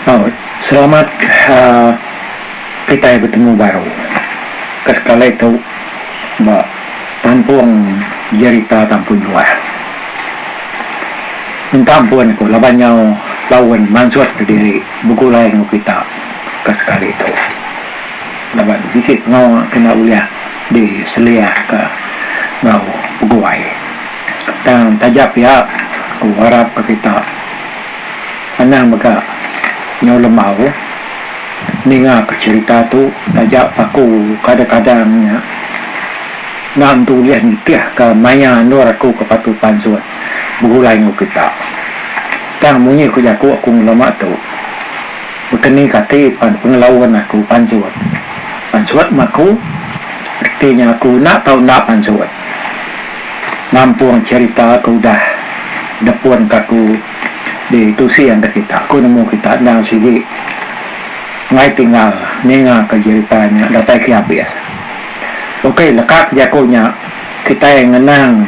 Aw selamat ka kitai betemu baru ka sekali tu ba kampung jerita Tampun Juan. Minta ampun ku laban nyau laun mansut ke diri begulai enggau kita ka sekali tu laban bisi pengawa ke enda ulih di seliah ka enggau peguai tang taja pia ku arap ka kita. Anang mega nyelum au ningaka cherita tu taja paku kadang-kadang nya enda empu ulih nitihka maya endur aku ke patu pansut begulai enggau kita. Tang munyi ku jaku aku ngelama tu bekeni kati pan pengelaun aku pansut. Pansut meh aku reti nya aku enda tau enda pansut. Nampung cherita ke udah depunka aku. Di tusi enda kita ku nemu kita endang sigi enggai tinggal ninga ka jerita nya datai ke abis. Ukai leka ke jaku nya kitai ngenang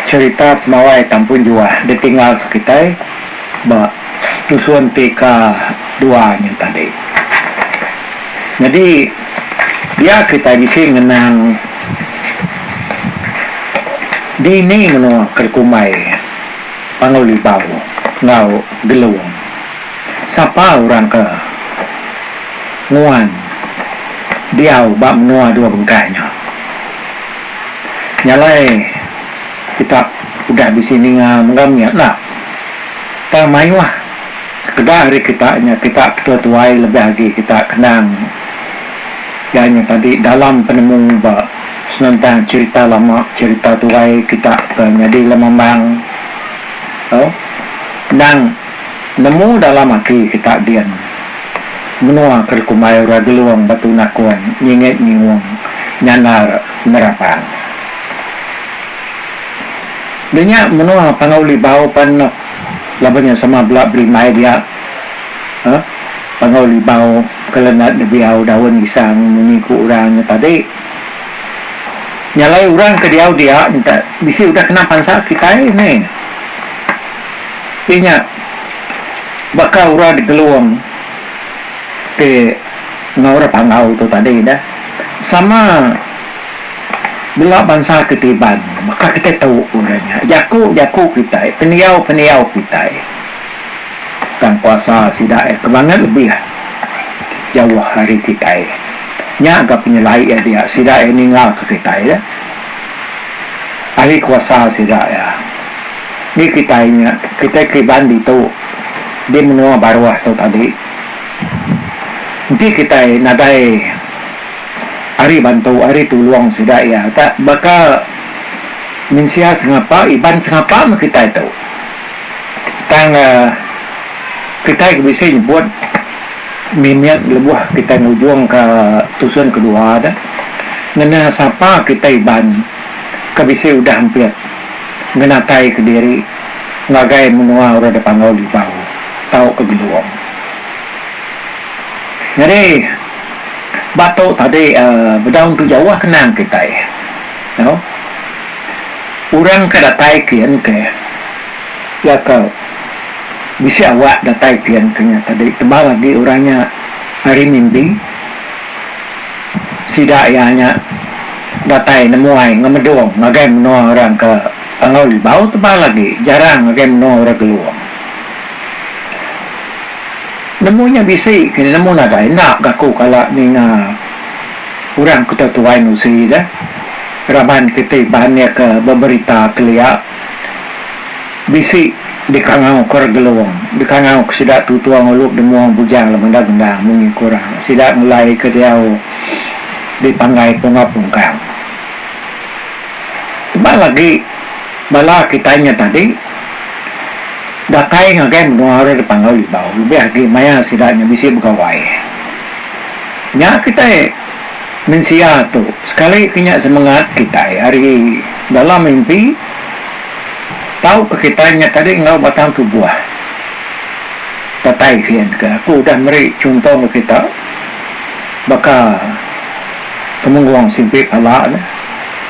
cerita pemawai Tampun Juah ditinggal ke kitai ba tusun ti ka dua nya tadi. Nyadi dia kitai bisi ngenang dini menua ke dikumbai. Panggau Libau enggau Gelung. Sapa orang ke nguan diau ba menua dua bengkah nya? Nya alai kita udah bisi ninga mega mih enda. Tang mayuh sekeda ari kita nya kita ke tua-tuai lebih agi kita kenang iya nya tadi dalam penemu ba. Senentang cerita lama, cerita tuai kita ke nyadi lemambang tu endang nemu dalam ati kita din. Menua ke dikumbai orang Gelong Batu Nakun, Nyingit Nyiung, Nyandar Nerapang. Dia nya menua Panggau Libau pan enoh laban nya sama bela berimbai dia. Panggau Libau. Kelenat nebiau daun isang munyi ku orang nya tadi. Nyalai orang ke diau dia nya bisi udah kena pansa kitai ni. Ti nya baka orang digelung ti enggau orang panggau tu tadi dah. Sama bela bansa ti tiban baka kitai tu orang nya. Jaku-jaku kitai, pendiau-pendiau kitai. Tang kuasa sida iya ke langit lebih jauh ari kitai. Nya ga penyelai iya dia sida iya ninggalka kitai nya. Ari kuasa sida iya ni kitai nya kitai keriban ditu di menua baruh tu tadi. Enti kitai nadai ari bantu ari tulung sida iya ka baka mensia sengapa iban sengapa meh kitai tu. Tang kitai ke bisi nyebut mimit lebuh kitai ngujungka tusun kedua ne ngena sapa kitai Iban ke bisi udah ampit ngenataika diri ngagai menua orang dipanggau Libau tauka Gelong. Nyadi ba tu tadi bedau tu jauh ke nang kitai. Orang ke datai ke iya engke iya ke bisi awak datai ke iya engke nya tadi tebal agi orang nya ari mimbi sida iya nya datai nemuai ngemedong ngagai menua orang ke Tangau Libau tebal agi jarang ngagai menua orang Gelong. Nemu nya bisi kini nemu nadai enda gaku kala ninga. Orang ke tu tuai nusi ga raban kiti ban iya ke beberita kelia bisi dikangau ke orang Gelong dikangau ke sida tu tuang ulu demung bujang laban enda gendang munyi ke orang sida ngulai ke diau di panggai Pungau Pungkang. Tebal agi bala kitai nya tadi datai ngagai menua orang dipangau Libau lebih agi maya sida nya bisi begawai. Nya kitai mensia tu sekali ke nya semengat kitai ari dalam mimpi tau ke kitai nya tadi enggau batang tubuh datai gin ke aku udah meri chunto enggau kita baka Temenggong Simpi Pala ne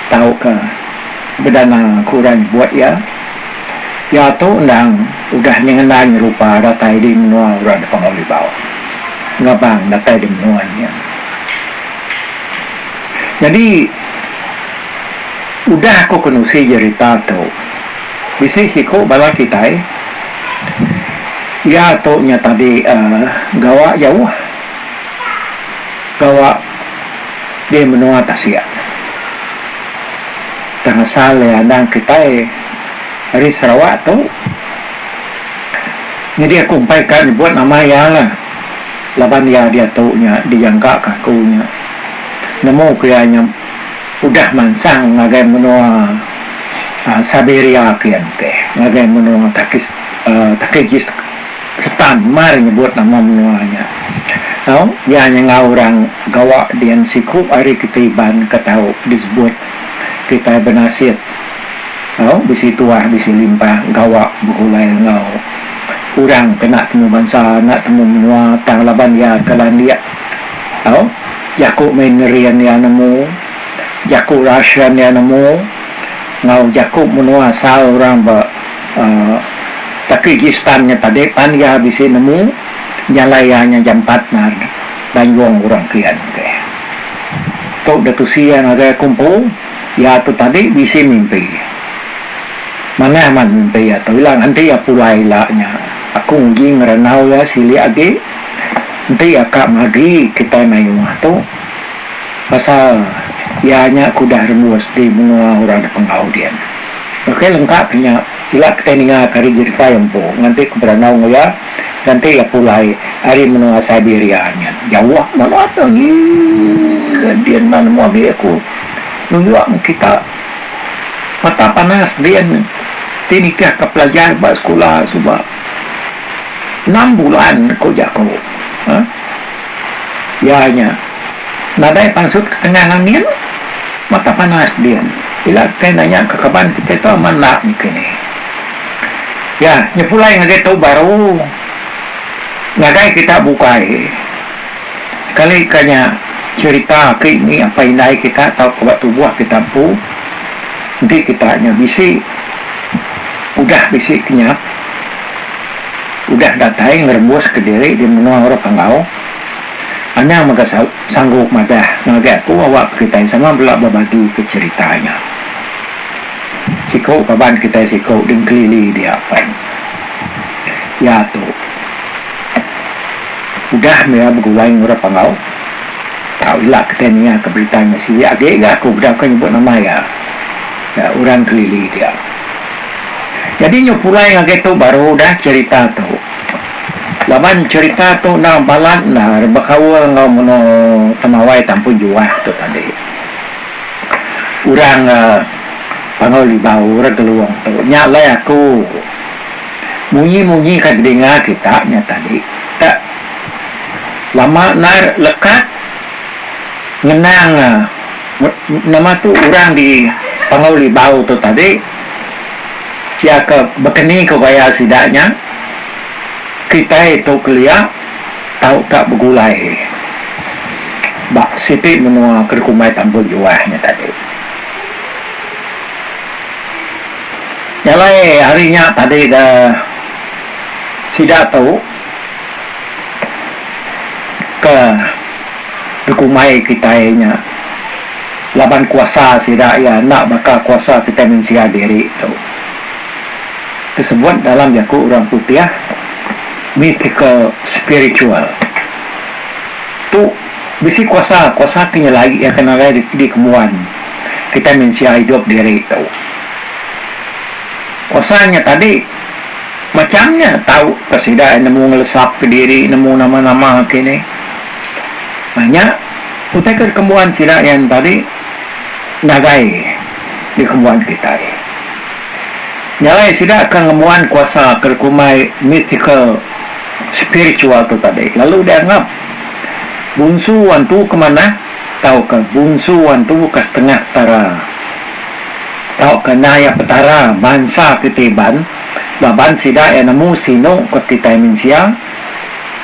tau ke bedana aku udah nyebut iya. Iya tu endang udah nyengenda nyerupa datai di menua orang di Pengawa Libau ngabang datai di menua nya. Nyadi udah aku kenusi jerita tu bisi siku bala kitai iya tu nya tadi uhh gawa jauh gawa di menua tasik tang asal iya endang kitai. ari Sarawak tu nyadi aku empai ka nyebut nama iya la laban iya diatu nya dijangka ka aku nya nemu ku iya nya udah mansang ngagai menua aaa Siberia kian teh ngagai menua Takis aaa Takijis Takistan mar nyebut nama menua nya tau iya nya enggau orang gawa dian siku ari kitai Iban ka tau disebut kitai benasit. Tau bisi tuah bisi limpah gawa begulai enggau orang ke enda temu bansa enda temu menua tang laban iya ke landik tau jaku Mandarin iya nemu jaku Russian iya nemu enggau jaku menua asal orang ba Tajikistan nya tadi pan iya bisi nemu jalai iya nya jampat ngan banjong orang kian tu deh tu deh tusi iya ngagai aku empu. Iya tu tadi bisi mimpi. Manah amat mimpi iya tu ila enti iya pulai ila nya. Aku nguji ngerandau iya silik agi enti iya ka magi kitai mai rumah tu pasal iya nya aku udah rembus di menua orang da penggau din. Ok lengka ke nya ila kitai ninga ka ari jerita iya empu nganti ku berandau enggau iya nganti iya pulai ari menua Siberia nya. Jauh balat agi ke din enda nemu agi aku. nunjuk meh kita mata panas din ti nitihka pelajar ba sekula suba enam bulan ku jaku uhh iya nya nadai pansut ketengan angin mata panas din ila kitai nanya ke kaban kitai tu amat enda niki ni iya nyepulai ngagai tu baru ngagai kita bukai. Sekali ka nya, cherita ti mih apai indai kita tauka ba tubuh kita empu enti kita nya bisi udah bisi kenyap, udah datai ngerembus ka diri di menua orang panggau, anang mega sanggup madah ngagai aku awak ka kitai sama bela bebagi ka cherita nya. Siku kaban kitai siku di Engkelili dia pen. Iya tu. Udah mira begulai enggau orang Panggau, tau ila kitai ninga berita nya silik agi ga aku bedau ka nyebut nama iya ga orang Kelili dia. Nyadi nyau pulai ngagai tu baru udah cherita tu. Laban cherita tu enda balat enda bekaul enggau menua Temawai Tampung Juah tu tadi. Orang Panggau Libau, orang Gelong tu nya alai aku. Munyi-munyi ka telinga kita nya tadi ka lama endar lekat ngenang nama tu orang di Panggau Libau tu tadi pia ka bekeni ka gaya sida nya kitai tu kelia tau ka begulai ba siti menua ke dikumbai Tambun Juah nya tadi. Nyalai ari nya tadi da sida tu ke dikumbai kitai nya laban kuasa sida iya enda baka kuasa kitai mensia diri tu disebut dalam jaku orang putih mythical spiritual tu bisi kuasa kuasa ti nyelai iya ke nadai dikembuan kitai mensia idup diri tu. Usa nya tadi, macham nya tau ka sida nemu ngelesapka diri nemu nama-nama agi ni. Nah nya utai ke dikembuan sida iya nya tadi ngagai dikembuan kitai. Nya alai sida ke ngembuan kuasa ke dikumbai mythical spiritual tu tadi lalu dianggap bunsu antu ke manah tauka bunsu antu ke setengah tara. Tauka endai ya Petara, bansa ti tiban laban sida iya nemu sinu ke kitai mensia,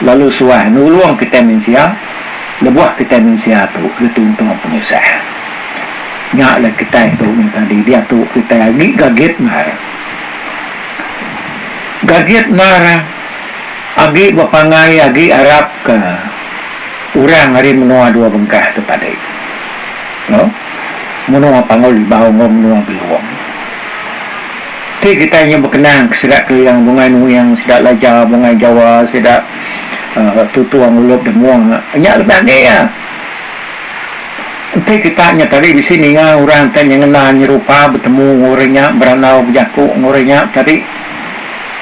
lalu suah nulung kitai mensia lebuh kitai mensia tu dituntung penusah. Nya alai kitai tu meh tadi diatu kitai agi gagit endar. Gagit endar agi bepangai agi arapka orang ari menua dua bengkah tu tadi. Lo. Menua Panggau Libau enggau Menua Belong ti kitai nya bekenang ke sida Keling, Bungai Nuing, sida Laja, Bungai Jawa, sida Tutung, Ulup Demung nya lebih agi iya. Enti kita nya tadi bisi ninga orang ti nyengena nyerupa betemu enggau orang nya berandau bejaku enggau orang nya tadi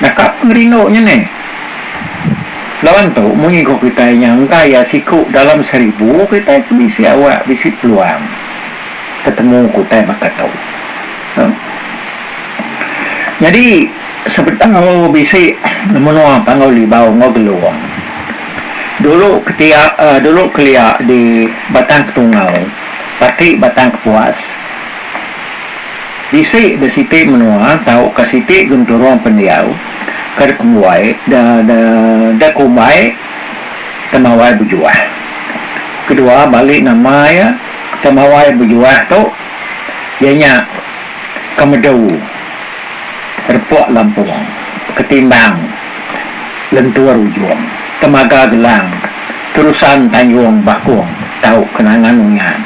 naka pengerindu nya neh. Laban tu, mun iku kitai nyangka iya siku dalam seribu, kitai ke bisi awak bisi peluang tetemu ku utai baka tu. Nyadi, sebedau bisi menua Panggau Libau enggau Gelong dulu ketiak uhh dulu kelia di Batang Ketungau, parti Batang Kepuas, Bisi da siti menua tauka siti genturung pendiau ke dikembuai da da da kumbai temawai bejuah. Kedua bali nama iya temawai bejuah tu iya nya kemedu repok lampung ketimbang lentur ujung temaga gelang terusan tanjung bakung tau kenangan uyan.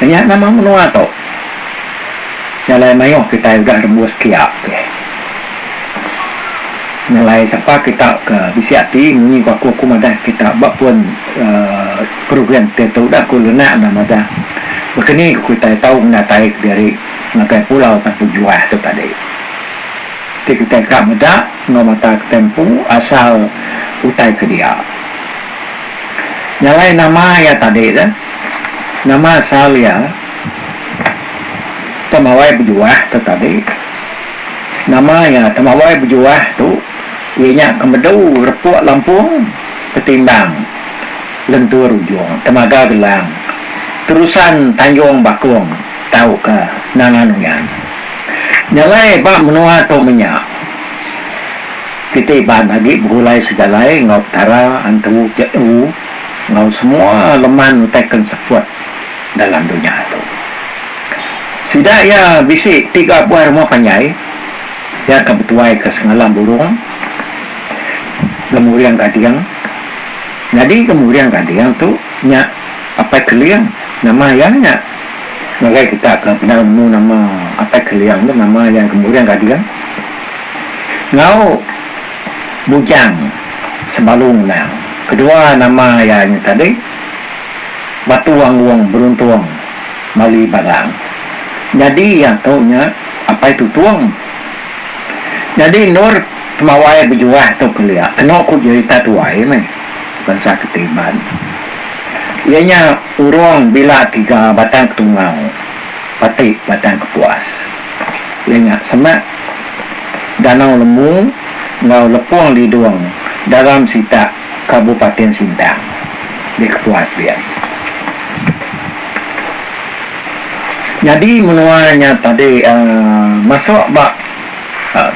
Nya nama menua tu. Jalai mayuh kitai udah rembus ke iya tih. Jalai sapa kita ke bisi ati munyi ku aku aku madah kita ba pun program ti tu udah ku lenak enda madah baka ni ku kitai tau ngedatai kediri ngagai pulau tan pejuah tu tadi. Ti kitai ka meda enggau mata kitai empu asal utai ke dia. Jalai nama iya tadi tu. Nama asal iya? Temawai Bejuah tu tadi. Nama iya Temawai Bejuah tu iya nya ke medu repuk lampung Ketimbang, lentur ujung, temaga gelang, terusan tanjung bakung tauka Nangan Uyan. Nya alai ba menua tu menya kitai ba agi begulai sejalai enggau Petara Antu Je'u. enggau semua leman utai ke enseput dalam dunya tu. Sida iya bisi tiga buah rumah panjai iya ke betuaika semalam burung, gemuring gading. Nyadi gemuring gading tu nya Apai Keling nama iya nya. Ngagai kita ke peda nemu nama Apai Keling tu nama iya gemuring gading. Enggau. Bujang Sebalung Nang kedua nama iya nya tadi Batu Angung Beruntung Mali Balang nyadi iya tu nya Apai Tutung nyadi endur temawai bejuah tu kelia keno ku jerita tuai meh bansa keti Iban iya nya Urong Bila Tiga Batang Ketungau Pati Batang Kepuas iya nya semak. Danau Lemu enggau Lepong Lidong, Daram Sitak, Kabupatin Sintang. Di kepuas dia. Nyadi menua nya tadi masuk ba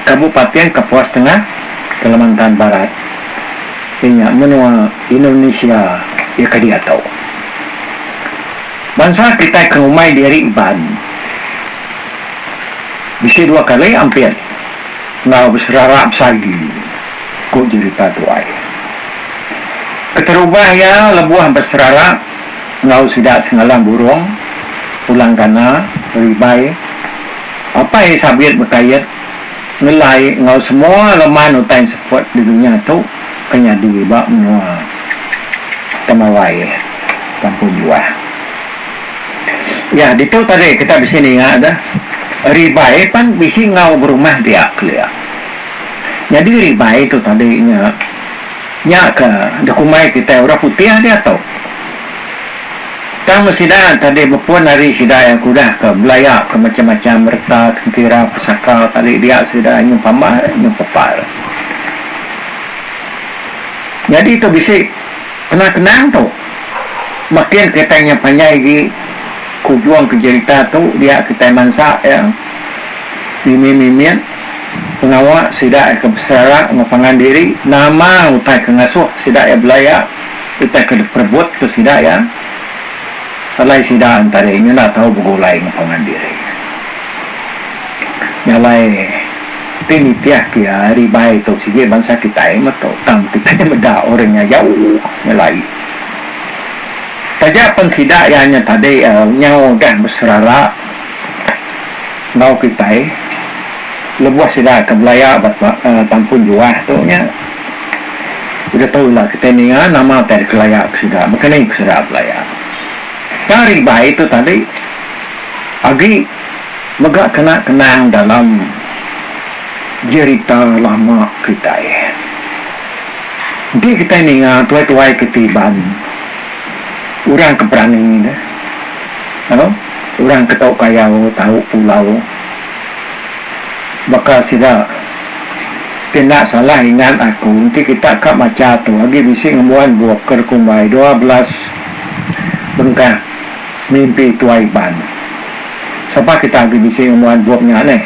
Kabupatin Kapuas Tengah, Kalimantan Barat. Iya nya menua Indonesia iya ke diatu. Bansa kitai ke ngumbai diri Ban. Bisi dua kali ampit enggau beserara besagi, ku Jerita Tuai. Keterubah iya lebuh beserara enggau sida sengalang burung, pulang gana, ribai, apai sabit bekait, ngelai enggau semua leman utai seput di dunya tu ke nyadi ba menua Temawai, Kampung Juah. Ya ditu tadi kita bisi ninga ga ribai pan bisi enggau berumah dia kelia. Nyadi ribai tu tadi nya nya ka dikumbai kitai orang putih diatu. Tang meh sida tadi bepun ari sida iya ke udah ka belaya ka macam-macam reta tentera pesaka tadi dia sida nyun pambar nyun pepar. Nyadi tu bisi Kenang-kenang tu makin kitai nya panjai agi ke ujung ke jerita tu dia kitai mansak iya mimit-mimit pengawa sida iya ke beserara enggau pangan diri nama utai ke ngasuh sida iya belai iya utai ke diperebut ke sida iya alai sida entari nya enda tau begulai enggau pangan diri nya alai Enti nitih ke ari bai tu sigi bansa kitai meto tang kitai meda orang nya jauh nyelai. Taja pen sida iya nya tadi nyau udah beserara enggau kitai lebuh sida ke belaya ba tampun juah tu nya udah tu ila kitai ninga nama utai deka laya ke sida baka ni ke sida belaya. Tang ari bai tu tadi agi Mega kena kenang dalam jerita lama kitai. Enti kitai ninga tuai-tuai ke ti Iban, orang ke berani nya, au, orang ke tau kayau, tau pulau, baka sida ti enda salah ingat aku enti kita ka macha tu agi bisi ngembuan bup ke rekumbai dua belas bengkah. Mimpi Tuai Iban. Sapa kita agi bisi ngembuan bup nya neh.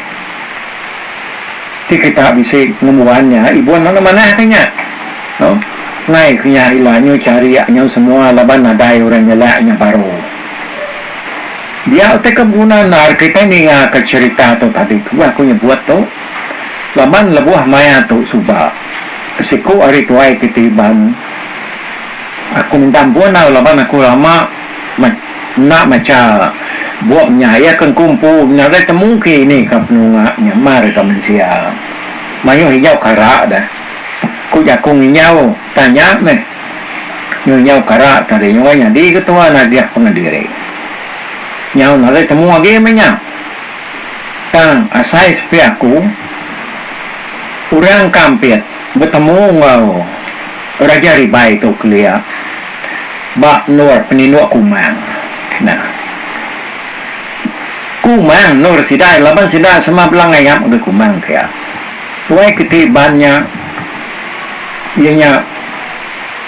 Ti kita bisi ngembuan nya ibun lalu manah ke nya. No. Nai ke nya ila nyu charik nyau semua laban nadai orang nyelak nya baru. Dia utai ke beguna endar kitai ninga ke cherita tu tadi ku aku nyebut tu. Laban lebuh maya tu suba. Siku ari tuai kiti Iban. Aku minta ampun au laban aku lama. Enda macha bup nya iya ke engku empu nadai temu ke ini ka penunga nya mar deka mensia. Mayuh ijau kara dah. Ku jaku nginyau tanya meh. Nyau inyau kara ka deh nyau ai nyadi ketua nagih pengadiri. Nyau nadai temu agi meh nya. Tang asai sepi aku orang ka ampit. Betemu enggau Raja Ribai tu kelia ba endur peninduk Kumang. Nah. Kumang endur sida laban sida sama bela ngayap ngagai Kumang pia. Tuai ke ti ban nya iya nya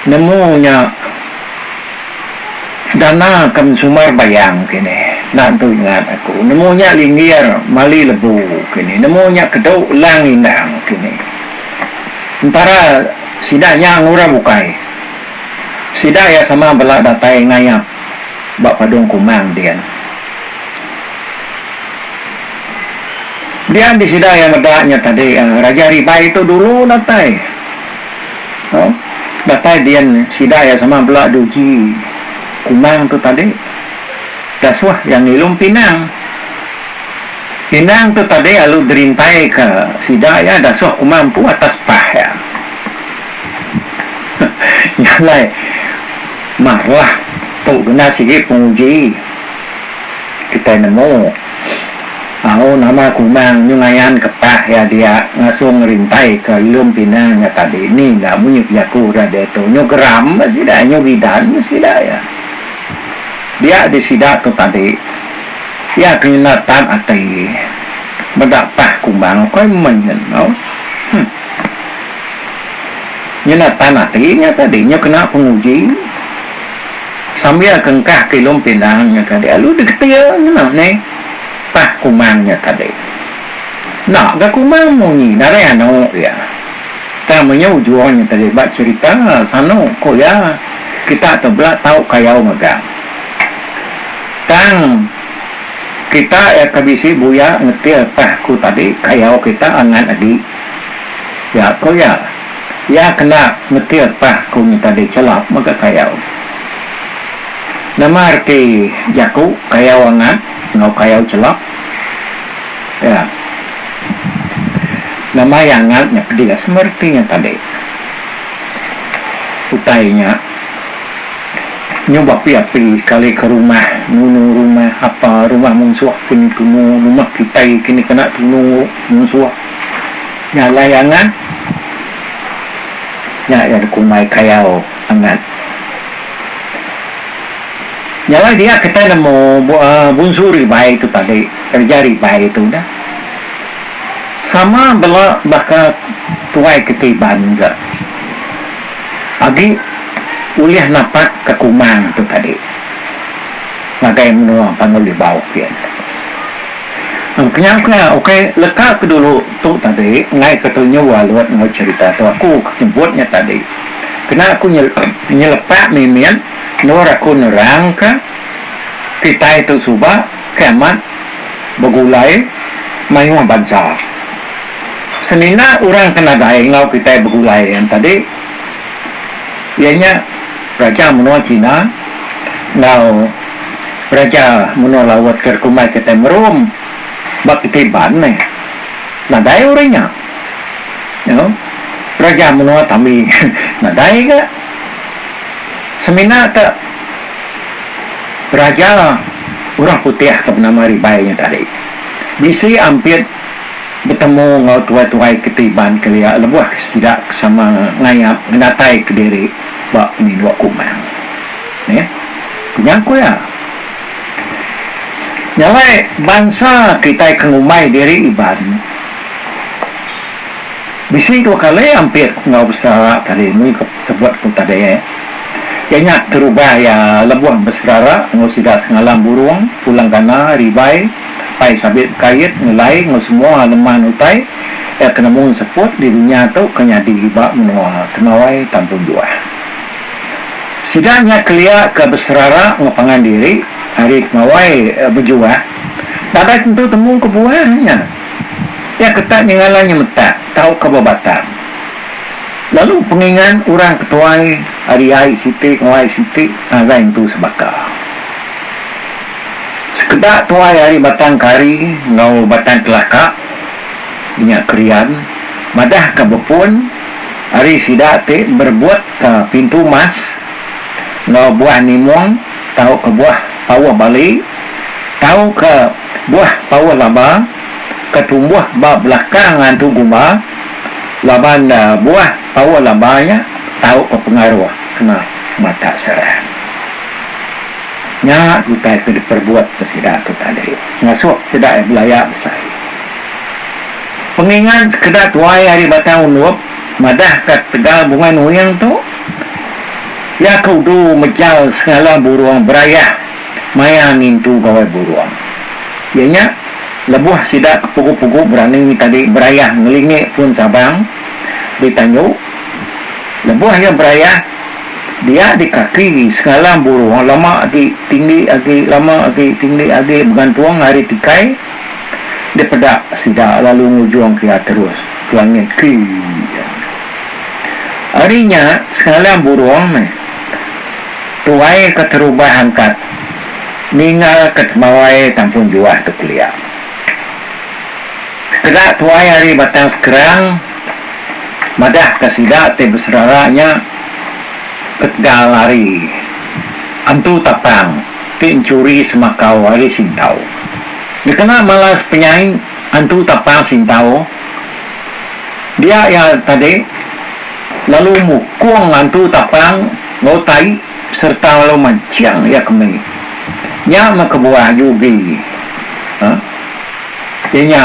nemu nya. Dana ke mensumar bayang kini enda entu ingat aku nemu nya linggir mali lebu kini nemu nya kedu lang indang kini entara sida nya ngurau bukai sida iya sama bela datai ngayap ba padung kumang din dia di sida iya meda nya tadi Raja Ribai tu dulu datai. Datai dian sida iya sama bela duji Kumang tu tadi Dasuh iya ngilum pinang. Pinang tu tadi lalu dirintai ka sida iya Dasuh Kumang empu atas pah iya. Nya alai marah tu kena sigi penguji kitai nemu. Au nama Kunang nyu ngayan kepak iya dia ngasuh ngerintai ke lum pinang nya tadi ni enda munyi pejaku udah diatu nyu geram bah sida nyu bidan bah sida iya dia di sida tu tadi iya ke nyenda tan ati meda pah kumbang ukai meh nyen au huh nyenda tan ati nya tadi nyu kena penguji. Sambil kengkah ke ilung pindang nya tadi alu digetir ngena ni pah kumang nya tadi. Enda ga kumang munyi darai anu iya. Tang nya ujung nya tadi ba cherita sanu ku iya kita tu bela tau kayau mega. Tang kita iya ke bisi buya ngetir pah ku tadi kayau kita angat agi. Iya ku iya. Iya kena metil pah ku nyita diri chelap mega kayau. Nama reti jaku kayau angat enggau kayau chelap? Iya. Nama iya angat nya pedih sama reti nya tadi. Utai nya nyuba api-api kali ke rumah, nunu rumah apa, rumah munsuh kini tunu, rumah kitai kini kena tunu munsuh. Jalai angat nya iya dikumbai kayau angat. Jalai dia kitai nemu bunsu ribai tu tadi, kereja ribai tu dah. Sama bela baka tuai kita Iban ga agi ulih napak ka kumang tu tadi ngagai menua Panggau Libau kian. Kenyau ke ukai leka ke dulu tu tadi enggai ke tunyu alut enggau cerita tu aku ke nyebut nya tadi kena aku nyelepak mimit endur aku nerang ka kitai tu suba ke amat begulai mayuh bansa semina orang ke nadai enggau kitai begulai nya tadi iya nya raja menua china enggau Raja Menua Laut ke dikumbai kitai Merum ba keti Iban meh nadai orang nya. Nya, Raja Menua Tami nadai ga. Semina ke Raja Orang Putih ke benama Ribai nya tadi bisi ampit betemu enggau tuai-tuai keti Iban kelia lebuh ke sida ke sama ngayap ngenataika diri ba Penindu Kumang. Neh, ku nyangkut iya. Nya alai bansa kitai ke ngumbai diri Iban, bisi dua kali ampit enggau beserara tadi mung ke sebut ku tadi iya nya terubah iya lebuh beserara enggau sida sengalam burung, pulang gana, ribai, pai sabit bekait, ngelai enggau semua leman utai iya ke nemu seput di dunya tu ke nyadi ba menua Temawai Tampung Juah. Sida nya kelia ke beserara enggau pangan diri ari pengawai bejuah nadai tentu temu kebuah nya. Iya ketak nyengala nya metak tauka ba batang lalu pengingan orang ke tuai ari ai siti enggau ai siti nadai nentu sebaka. Sekeda tuai ari Batang Kari enggau Batang Kelaka, inya Krian, madahka bepun, ari sida ti berebutka pintu emas enggau buah nimong tauka buah pauh bali tauka buah pauh laba ke tumbuh ba belakang ngantu gumba laban buah pauh laba nya tauka pengaruh kena matak serang. Nya utai ke diperebutka sida tu tadi ngasuh sida belaya besai. Pengingat sekeda tuai ari Batang Undup madah ka ketegal bungai nuing tu, iya ke udu mejal sengalah burung berayah maya ngintu gawai burung. Iya nya, lebuh sida ke pugu-pugu berani tadi berayah ngelingi pun Sabang di Tanyu, lebuh iya berayah, dia di kaki sengalah burung lama agi tinggi agi lama agi tinggi agi begantung ari tikai, Dipeda sida lalu ngujungka iya terus ke langit kii. Ari nya sengalam burung meh tuai ke terubah angkat ninggalka temawai tampun juah tu kelia. Sekeda tuai ari Batang Sekerang madahka sida ti beserara nya ketegal ari Empu Tapang. ti enchuri semakau ari Sintau. Dikena malas penyai antu tapa Sintau dia iya tadi lalu mukung antu tapa enggau tai sereta lalu manching iya kembi. Nya meh kebuah Yugi. Huh. Iya nya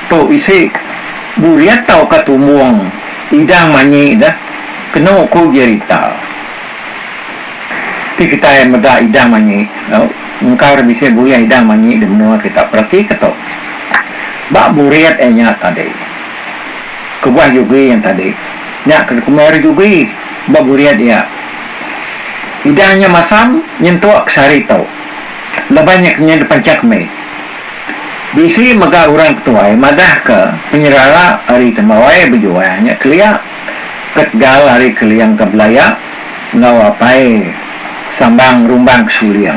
tu isi burit tauka tumbung idang manyi deh kenu ku Jerita. Ti kitai meda idang manyi tau engkar bisi bulih idang manyi di menua kita peratika tu ba burit iya nya tadi kebuah jugi yang tadi nya ke dikumbai ri jugi ba burit iya idang nya masam nyentuk ke sehari tu lebai nya kenyah dipanchak mih bisi mega orang ketuai madah ke penyerara ari tembuai bejual nya kelia. Ketegal ari Keling ke belaya enggau apai sambang rumbang ke suling.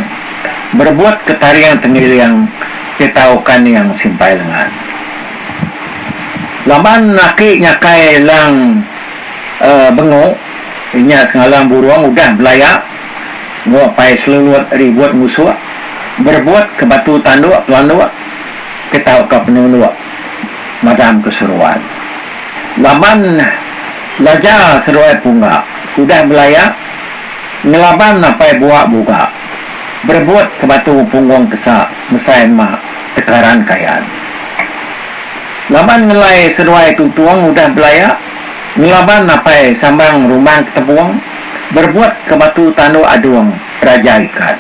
Berebut ke taring tengiling ti tau kaning simpai lengan. Laban laki nyakai lang uhh bengu inya Sengalang Burung udah belaya enggau apai selulut ribut ngusuk berebut ke batu tanduk pelanduk ti tau ka penunduk. madam ke seruan. Laban laja seruai pungga udah belaya ngelaban apai bua buga berebut ke batu punggung kesa mesai ema tekaran kayan. Laban ngelai seruai tuntung udah belaya ngelaban apai sambang rumang ke tebung berebut ke batu tanduk adung raja ikan.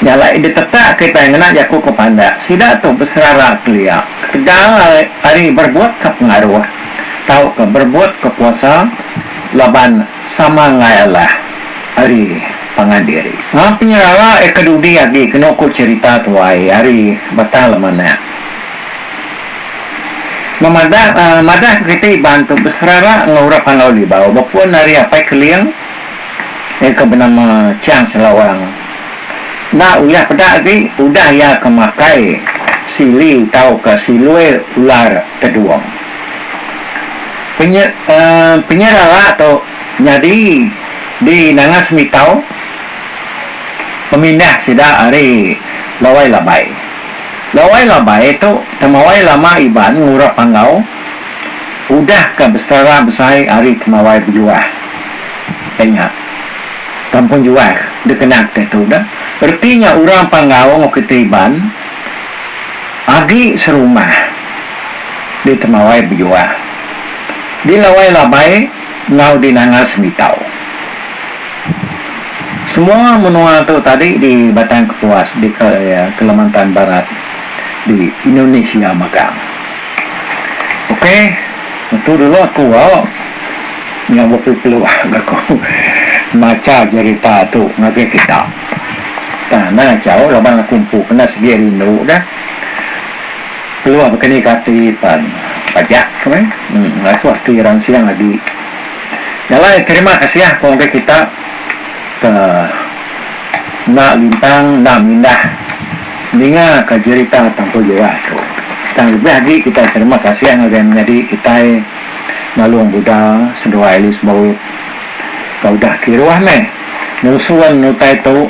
Nya alai ditetak kitai ngena jaku ke pandak sida tu beserara kelia ketegal ari berbuatka pengaruh tauka berbuatka kuasa laban sama enggai alah ari pangan diri. Enggau penyerara iya ke dudi agi kenu ku cherita tuai ari Batang Lemanak memadahka kiti iban tu beserara enggau orang Panau Libau bepun ari Apai Keling, iya ke benama Chiang Selawang. Enda uyah peda agi udah iya ke makai sili tauka silui ular tedung. Penye penyerara tu nyadi di Nanga Semitau pemindah sida ari Lawai Labai. Lawai Labai tu temawai lama Iban ngurap Panggau. Udah ka besara besai ari kemawai bejuah. Ai nya. Kampung juah dikena kitai tu dah. Reti nya orang pan ngaung oko kitai Iban agi serumah di kemawai bejuah. Di lawai labai enggau di nanga semitau. Semua menua tu tadi di Batang Kepuas di Kalimantan Barat di Indonesia mega. Ok ngetu dulu aku ba nya baka keluah ngaku macha jerita tu ngagai kita tang anang achau laban aku empu kena sigi rindu dah keluah baka ni ka ati pan pajak ke meh ngasuh ati ransing agi nya alai terima kasih aku ngagai kita ke enda lintang enda mindah. Ninga ka jerita Tampul Jiwa tu. Tang lebih agi kitai terima kasih ngagai menyadi kitai Nalung Buda Senduai Alice Bowit ka udah kiruh meh nyusun utai tu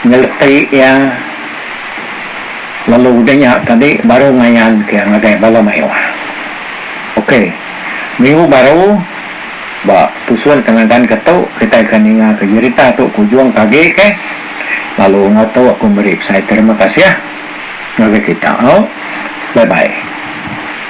nyeleti iya lalu udah nya tadi baru ngayan ke ngagai bala mayuh. Ok minggu baru ba tusun tenagan ke tu kitai akan ninga ka jerita tu ke ujung ke agi keh. Lalu enggau tu aku meri besai terima kasih ngagai kita. Au. Bye bye.